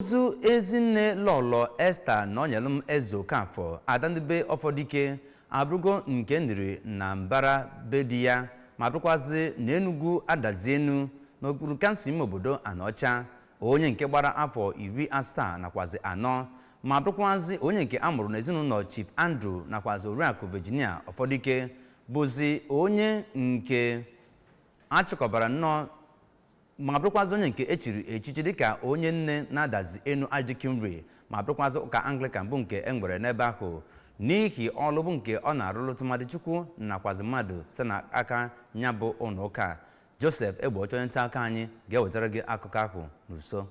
ozu ezinne lọlọ esta nonyelum ezeokafọ ada ndị be ọfọdike abụrụgo nke e niri na mbara be di ya ma bụrụkwazị na enugwu adazi enu n'okpuru kansụl ime obodo anaọcha onye nke gbara afọ iri asaa nakwazi anọ ma bụrụkwazị onye nke a mụrụ n'ezinụlọ chief andrew nakwazi oriakụ virginia ọfọdike bụzi onye nke a chịkọbara nnọọ ma bụrụkwazị onye nke e chiri echichi dịka onye nne na adazi enu archdeaconry ma bụrụkwazị ụka anglikan bụ nke e nwere n'ebe ahụ n'ihi ọlụ bụ nke ọ na-arụlụ tụmadị chukwu nakwazi mmadụ site na aka nya bụ ụlọ ụka joseph egbeocha onye nta akụkọ anyị ga-ewetara gị akụkọ ahụ n'uso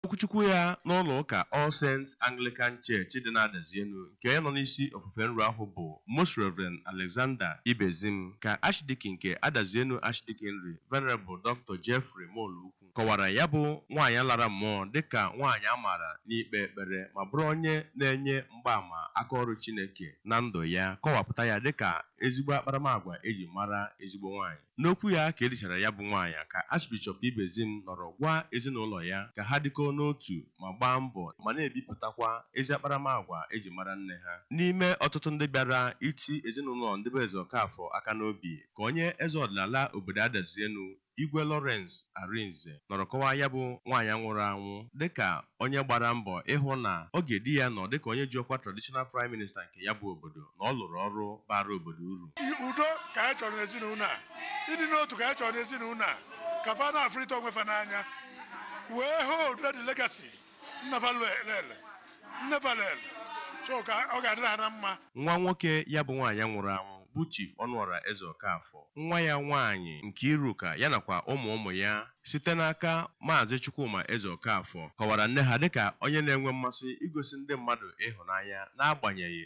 N'okwuchukwu ya n'ụlọ ụka All Saints Anglican Church dị n'Adazienu nke onye nọ n'isi ofufe nru ahụ bụ Most Rev. Alexander Ibezim ka Archdeacon nke Adazienu Archdeaconry Venerable Doctor Geoffrey Molokwu kọwara ya bụ nwaanyị lara mmụọ dịka nwaanyị a maara n'ikpe ekpere ma bụrụ onye na-enye mgbaama aka ọrụ Chineke na ndụ ya kọwapụta ya dịka ezigbo akparamagwa e ji mara ezigbo nwaanyị. N'okwu ya ka e lichara ya bụ nwaanyị ka Archbishop Ibezim nọrọ gwa ezinụlọ ya ka ha dịkọọ n'otu ma gbaa mbọ ma na-ebipụtakwa ezi akparamagwa e ji mara nne ha. N'ime ọtụtụ ndị bịara iti ezinụlọ ndị be Ezeokafor aka n'obi ka onye eze ọdịnala obodo Adazienu, Igwe Lawrence Arinze nọrọ kọwaa ya bụ nwaanyị nwụrụ anwụ dịka onye gbara mbọ ịhụ na oge di ya nọ dịka onye ji ọkwa Traditional Prime Minister nke ya bụ obodo. na ọ lụrụ ọrụ baara obodo uru. Udo ka anyị chọrọ n'ezinụlọ a, ịdị n'otu ka anyị chọrọ n'ezinụlọ a, ka fa na-afụrịta onwe fa n'anya wee hold the legacy nna fa lele nne fa lele so ka ọ ga-adịrị ha na mma. Nwa nwoke ya bụ nwaanyị nwụrụ anwụ bụ Chief Ọnụọra Ezeokafor, nwa ya nwaanyị Nkiruka ya nakwa ụmụ ụmụ ya site n'aka Maazị Chukwuma Ezeokafor kọwara nne ha dịka onye na-enwe mmasị igosi ndị mmadụ ịhụnanya n'agbanyeghị